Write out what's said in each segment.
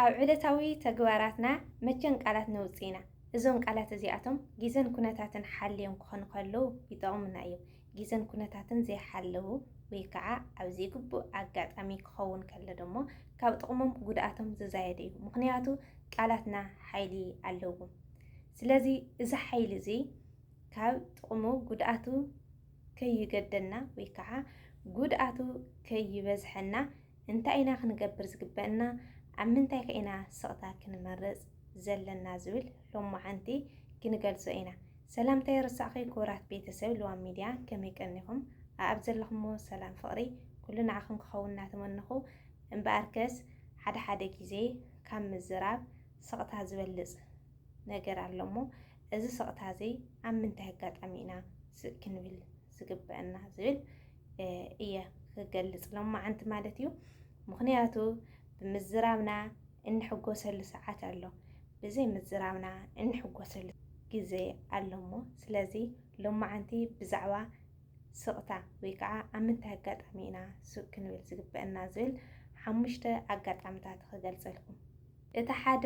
ኣብ ዕለታዊ ተግባራትና መቸን ቃላት ነውጽእ ኢና። እዞም ቃላት እዚኣቶም ግዘን ኩነታትን ሓልዮም ክኾኑ ከለዉ ይጠቕሙና እዮም። ግዘን ኩነታትን ዘይሓለዉ ወይ ከዓ ኣብ ዘይግቡእ ኣጋጣሚ ክኸውን ከሎ ደሞ ካብ ጥቕሞም ጉድኣቶም ዝዛየደ እዩ። ምኽንያቱ ቃላትና ሓይሊ ኣለዎም። ስለዚ እዚ ሓይሊ እዚ ካብ ጥቕሙ ጉድኣቱ ከይገደና ወይ ከዓ ጉድኣቱ ከይበዝሐና እንታይ ኢና ክንገብር ዝግበእና፣ ኣብ ምንታይከ ኢና ስቕታ ክንመርጽ ዘለና ዝብል ሎሞዓንቲ ክንገልጾ ኢና። ሰላም ተይርሳዕኺ ክቡራት ቤተሰብ ልዋም ሚድያ ከመይ ቀኒኹም ኣኣብ ዘለኹሞ ሰላም ፍቕሪ ኩሉ ንዓኹም ክኸውን እናተመነኹ እምበኣርከስ ሓደ ሓደ ግዜ ካብ ምዝራብ ስቕታ ዝበልጽ ነገር ኣሎሞ እዚ ስቕታ እዚ ኣብ ምንታይ ኣጋጣሚ ኢና ስቅ ክንብል ዝግበእና ዝብል እየ ክገልፅ ሎማዓንቲ ማለት እዩ። ምክንያቱ ብምዝራብና እንሕጎሰሉ ሰዓት ኣሎ፣ ብዘይ ምዝራብና እንሕጎሰሉ ግዜ ኣሎሞ ስለዚ ሎማዓንቲ ብዛዕባ ስቕታ ወይ ከዓ ኣብ ምንታይ ኣጋጣሚ ኢና ሱቅ ክንብል ዝግበአና ዝብል ሓሙሽተ ኣጋጣሚታት ክገልፀልኩም። እቲ ሓደ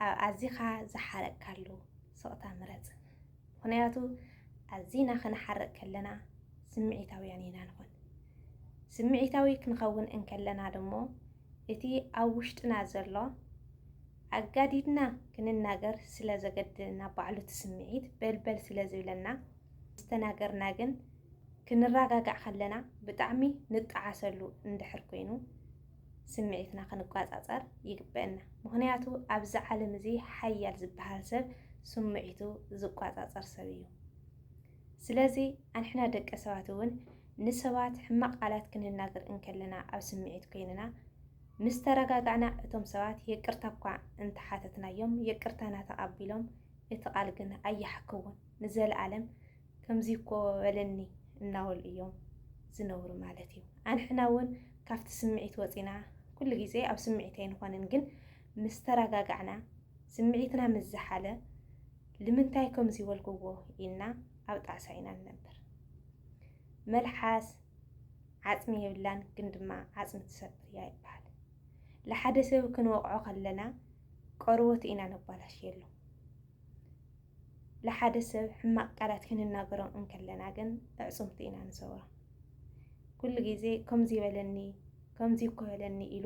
ኣብ ኣዚኻ ዝሓረቅካሉ ስቕታ ምረፅ። ምኽንያቱ ኣዚና ክንሓርቅ ከለና ስምዒታውያን ኢና ንኾን። ስምዒታዊ ክንኸውን እንከለና ድሞ እቲ ኣብ ውሽጥና ዘሎ ኣጋዲድና ክንናገር ስለ ዘገድደና ባዕሉ እቲ ስምዒት በልበል ስለ ዝብለና ምስ ተናገርና ግን ክንራጋጋዕ ከለና ብጣዕሚ ንጣዓሰሉ እንድሕር ኮይኑ ስምዒትና ክንቋጻጸር ይግበእና ምኽንያቱ ኣብዚ ዓለም እዚ ሓያል ዝበሃል ሰብ ስምዒቱ ዝቋጻጸር ሰብ እዩ ስለዚ ኣንሕና ደቂ ሰባት እውን ንሰባት ሕማቕ ቃላት ክንናገር እንከለና ኣብ ስምዒት ኮይንና ምስ ተረጋጋዕና እቶም ሰባት የቅርታ እኳ እንተሓተትናዮም የቅርታና ተቐቢሎም እቲ ቃል ግን ኣያሕክውን ንዘለኣለም ከምዚ እኮ በለኒ እናበሉ እዮም ዝነብሩ ማለት እዩ። ኣንሕና እውን ካብቲ ስምዒት ወፂና ኩሉ ግዜ ኣብ ስምዒት ኣይንኾንን፣ ግን ምስ ተረጋጋዕና ስምዒትና ምስ ዝሓለ ልምንታይ ከምዚ በልክዎ ኢልና ኣብ ጣዕሳ ኢና ንነብር። መልሓስ ዓፅሚ የብላን ግን ድማ ዓፅሚ ትሰብር እያ ይበሃል። ንሓደ ሰብ ክንወቕዖ ከለና ቆርበቱ ኢና ነባላሽየሉ። ንሓደ ሰብ ሕማቕ ቃላት ክንናገሮ እንከለና ግን ኣዕጽምቱ ኢና ንሰብሮ። ኩሉ ግዜ ከምዚ በለኒ ከምዚ እኮ በለኒ ኢሉ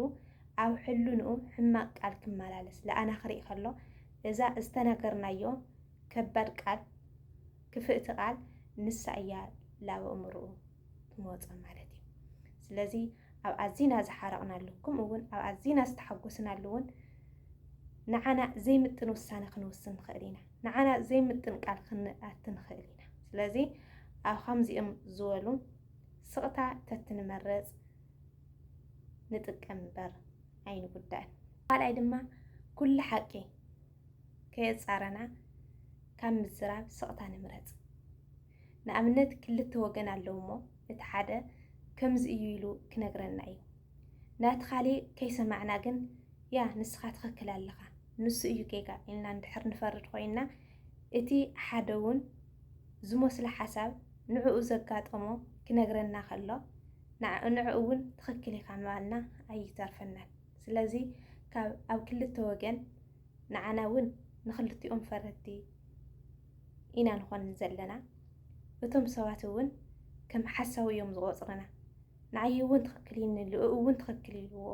ኣብ ሕልንኡ ሕማቕ ቃል ክመላለስ ለኣና ክርኢ ከሎ እዛ ዝተናገርናዮ ከባድ ቃል ክፍእቲ ቃል ንሳ እያ ላብ ኣእምርኡ ትመጾም ማለት እዩ። ስለዚ ኣብ ኣዚና ዝሓረቕናሉ ከምኡ እውን ኣብ ኣዚና ዝተሓጎስናሉ እውን ንዓና ዘይምጥን ውሳነ ክንውስን ንኽእል ኢና። ንዓና ዘይምጥን ቃል ክንኣት ንኽእል ኢና። ስለዚ ኣብ ከምዚኦም ዝበሉ ስቕታ ተትንመረፅ ንጥቀም እምበር ኣይንጉዳእን። ካልኣይ ድማ ኩሉ ሓቂ ከየፃረና ካብ ምዝራብ ስቕታ ንምረፅ። ንኣብነት ክልተ ወገን ኣለዉ እሞ እቲ ሓደ ከምዚ እዩ ኢሉ ክነግረና እዩ ናቲ ካሊእ ከይሰማዕና ግን ያ ንስኻ ትኽክል ኣለኻ ንሱ እዩ ጌጋ ኢልና እንድሕር ንፈርድ ኮይንና እቲ ሓደ እውን ዝመስሎ ሓሳብ ንዕኡ ዘጋጠሞ ክነግረና ከሎ ንዕኡ እውን ትኽክል ኢኻ ምባልና ኣይተርፈናን ስለዚ ካብ ኣብ ክልተ ወገን ንዓና እውን ንክልቲኦም ፈረድቲ ኢና ንኾን ዘለና። እቶም ሰባት እውን ከም ሓሳዊ እዮም ዝቆፅርና። ንዓይ እውን ትኽክል እዩ ንልኡ እውን ትኽክል ይልዎ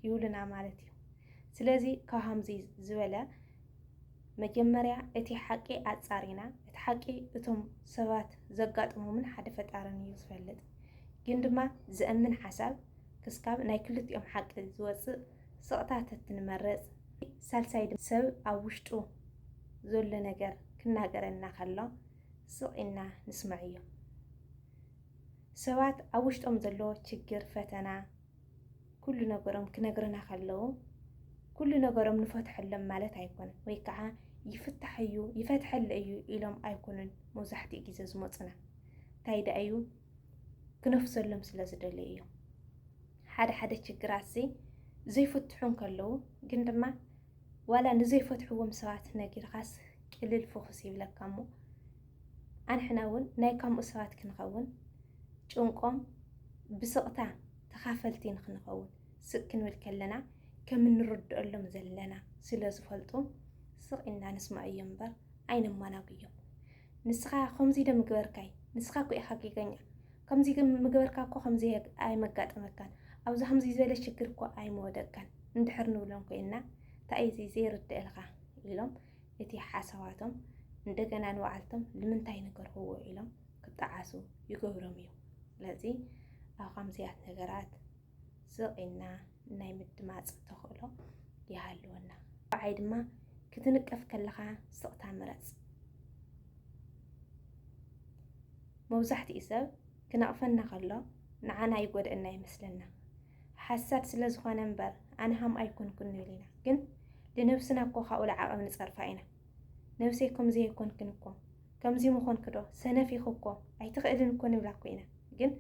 ይብሉና ማለት እዩ። ስለዚ ካብ ሃምዚ ዝበለ መጀመርያ እቲ ሓቂ ኣፃሪና እቲ ሓቂ እቶም ሰባት ዘጋጥሞምን ሓደ ፈጣርን እዩ ዝፈልጥ። ግን ድማ ዘእምን ሓሳብ ክስካብ ናይ ክልቲኦም ሓቂ ዝወፅእ ስቕታ ተትንመርጽ። ሳልሳይ ድማ ሰብ ኣብ ውሽጡ ዘሎ ነገር ክናገረና ከሎ ስቕ ኢልና ንስመዐዮ። ሰባት ኣብ ውሽጦም ዘሎ ችግር፣ ፈተና፣ ኩሉ ነገሮም ክነግሩና ከለዉ ኩሉ ነገሮም ንፈትሐሎም ማለት ኣይኮነን ወይ ከዓ ይፍታሕ እዩ ይፈትሐለ እዩ ኢሎም ኣይኮኑን መብዛሕትኡ ግዜ ዝመፁና እንታይ ደኣ እዩ ክነፍሰሎም ስለ ዝደለዩ እዮም። ሓደ ሓደ ችግራት እዚ ዘይፍትሑ እንከለዉ ግን ድማ ዋላ ንዘይፈትሕዎም ሰባት ነጊርካስ ቅልል ፎክስ ይብለካ እሞ ኣንሕና እውን ናይ ከምኡ ሰባት ክንኸውን ጭንቆም ብስቕታ ተኻፈልቲ ንክንኸውን ስቅ ክንብል ከለና ከም እንርድአሎም ዘለና ስለ ዝፈልጡ ስቕ ኢና ንስማዕ እዮም እምበር ኣይነማናጉዮም። ንስኻ ከምዚ ዶ ምገበርካይ ንስኻ እኮ ኢኻ ጌገኛ ከምዚ ምገበርካ እኮ ከምዚ ኣይመጋጠመካን ኣብዚ ከምዚ ዝበለ ሽግር እኮ ኣይመወደቅካን እንድሕር ንብሎም ኮይንና እንታይ እዩ ዘይርድእልካ ኢሎም እቲ ሓሳባቶም እንደገና ንባዕልቶም ልምንታይ ነገርክዎ ኢሎም ክጠዓሱ ይገብሮም እዩ ስለዚ ኣብ ከምዚያት ነገራት ስቕ ኢልና ናይ ምድማጽ ተኽእሎ ይሃልወና። ብዓይ ድማ ክትንቀፍ ከለኻ ስቕታ ምረጽ። መብዛሕትኡ ሰብ ክነቕፈና ከሎ ንዓና ይጎድእና ይመስለና። ሓሳድ ስለ ዝኾነ እምበር ኣነ ሃም ኣይኮንኩን ንብል ኢና፣ ግን ልነብስና እኮ ካብኡ ልዓቐብ ንጸርፋ ኢና። ነብሰይ ከምዚ ኣይኮንክን እኮ ከምዚ ምኾንኪ ዶ ሰነፍ ኢኺ እኮ ኣይትኽእልን እኮ ንብላ እኮ ኢና ግን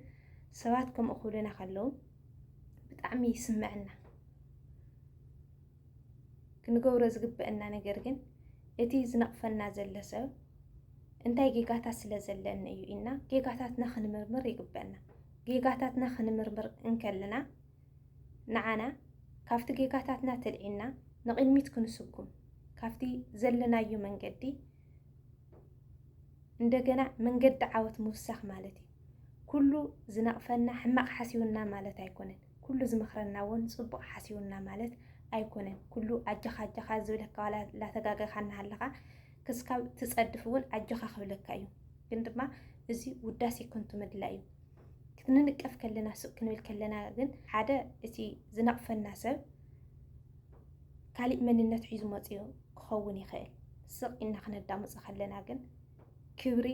ሰባት ከምኡ ክብሉና ከለዉ ብጣዕሚ ይስመዐና ክንገብሮ ዝግበአና ነገር ግን እቲ ዝነቕፈና ዘለ ሰብ እንታይ ጌጋታት ስለ ዘለኒ እዩ ኢና ጌጋታትና ክንምርምር ይግበአና። ጌጋታትና ክንምርምር እንከለና ንዓና ካብቲ ጌጋታትና ተልዒና ንቕድሚት ክንስጉም ካብቲ ዘለናዮ መንገዲ እንደገና መንገዲ ዓወት ምውሳኽ ማለት እዩ። ኩሉ ዝነቕፈና ሕማቕ ሓሲውና ማለት ኣይኮነን። ኩሉ ዝመኽረና እውን ፅቡቕ ሓሲውና ማለት ኣይኮነን። ኩሉ ኣጀኻ ኣጀኻ ዝብለካ ዋላ ላተጋገኻ እናሃለኻ ክስካብ ትፀድፍ እውን ኣጀኻ ክብለካ እዩ። ግን ድማ እዚ ውዳሴ ከንቱ ምድላይ እዩ። ክንንቀፍ ከለና ሱቅ ክንብል ከለና ግን ሓደ እቲ ዝነቕፈና ሰብ ካሊእ መንነት ሒዙ መፂኡ ክኸውን ይኽእል። ስቕ ኢልና ክነዳምፆ ከለና ግን ክብሪ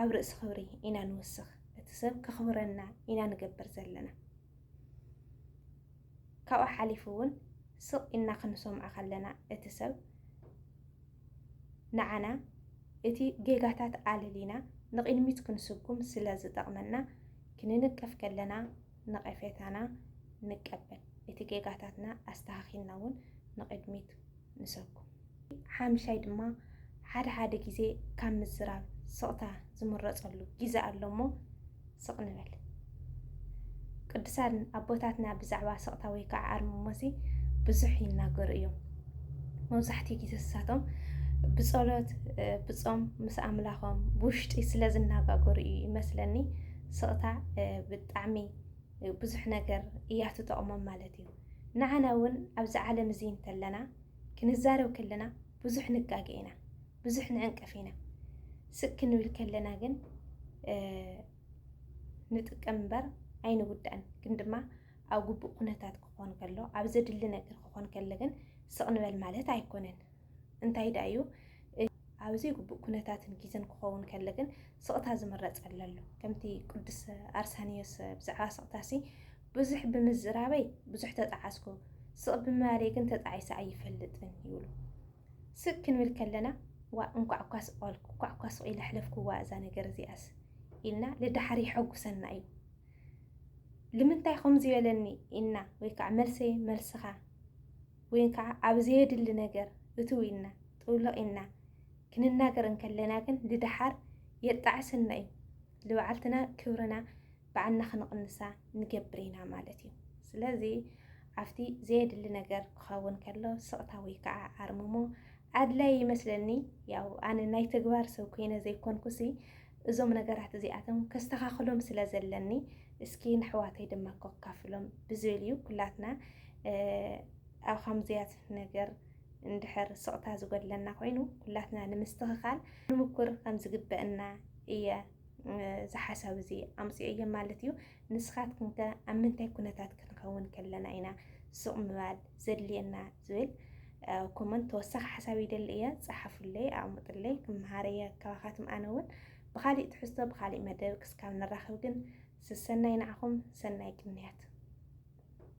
ኣብ ርእሲ ክብሪ ኢና ንውስኽ። እቲ ሰብ ከኽብረና ኢና ንገብር ዘለና። ካብኡ ሓሊፉ እውን ስቕ ኢልና ክንሰምዖ ከለና እቲ ሰብ ንዓና እቲ ጌጋታት ኣለሊና ንቕድሚት ክንስጉም ስለ ዝጠቕመና ክንንቀፍ ከለና ነቐፌታና ንቀበል እቲ ጌጋታትና ኣስተኻኺልና ውን ንቕድሚት ንሰጉም። ሓምሻይ ድማ ሓደ ሓደ ግዜ ካብ ምዝራብ ስቕታ ዝምረጸሉ ግዘ ኣሎ እሞ ስቕ ንበል። ቅዱሳን ኣቦታትና ብዛዕባ ስቕታ ወይ ከዓ ኣርምሞሲ ብዙሕ ይናገሩ እዮም። መብዛሕትኡ ግዜ ንሳቶም ብጸሎት ብጾም ምስ ኣምላኾም ብውሽጢ ስለ ዝነጋገሩ እዩ ይመስለኒ። ስቕታ ብጣዕሚ ብዙሕ ነገር እያ ትጠቕሞም ማለት እዩ። ንዓና እውን ኣብዚ ዓለም እዚ እንተለና ክንዛረብ ከለና ብዙሕ ንጋገ ኢና፣ ብዙሕ ንዕንቀፍ ኢና። ስቅ ክንብል ከለና ግን ንጥቀም እምበር ኣይንውዳእን። ግን ድማ ኣብ ግቡእ ኩነታት ክኾን ከሎ ኣብ ዘድሊ ነገር ክኾን ከሎ ግን ስቕ ንበል ማለት ኣይኮነን። እንታይ ደኣ እዩ ኣብ ዘይግቡእ ኩነታትን ግዜን ክኸውን ከሎ ግን ስቕታ ዝምረጽ ኣለሉ ከምቲ ቅዱስ ኣርሳንዮስ ብዛዕባ ስቕታሲ ብዙሕ ብምዝራበይ ብዙሕ ተጣዓስኩ ስቕ ብምባለይ ግን ተጣዒሰ ኣይፈልጥን ይብሉ። ስቅ ክንብል ከለና ዋ እንኳዕ እኳ ስቆልኩ እንኳዕ እኳ ስቅ ኢለ ሕለፍክዋ እዛ ነገር እዚኣስ ኢልና ልዳሓር ይሐጉሰና እዩ ልምንታይ ከምዚ በለኒ ኢና ወይ ከዓ መልሰይ መልስኻ ወይን ከዓ ኣብ ዘየድሊ ነገር እትው ኢልና ጥውልቕ ኢልና ክንናገር እንከለና ግን ልደሓር የጣዕሰና እዩ። ልባዕልትና ክብርና ባዕልና ክንቕንሳ ንገብር ኢና ማለት እዩ። ስለዚ ኣብቲ ዘየድሊ ነገር ክኸውን ከሎ ስቕታ ወይ ከዓ ኣርምሞ ኣድላይ ይመስለኒ። ያው ኣነ ናይ ተግባር ሰብ ኮይነ ዘይኮንኩሲ እዞም ነገራት እዚኣቶም ከስተኻኽሎም ስለ ዘለኒ እስኪ ንሕዋተይ ድማ ከካፍሎም ብዝብል እዩ ኩላትና ኣብ ከምዚያት ነገር እንድሕር ስቕታ ዝጎድለና ኮይኑ ኩላትና ንምስትኽኻል ንምኩር ከም ዝግበእና እየ ዝሓሳብ እዚ ኣምፅኦ እየ ማለት እዩ። ንስኻትኩም ከ ኣብ ምንታይ ኩነታት ክንኸውን ከለና ኢና ስቕ ምባል ዘድልየና? ዝብል ኮመንት ተወሳኺ ሓሳብ ይደሊ እየ ፀሓፉለይ ኣቕምጡለይ ክምሃር እየ ካባኻትም ኣነ እውን ብካሊእ ትሕዝቶ ብካሊእ መደብ ክስካብ ንራኸብ ግን ስሰናይ ንዓኹም ሰናይ ቅንያት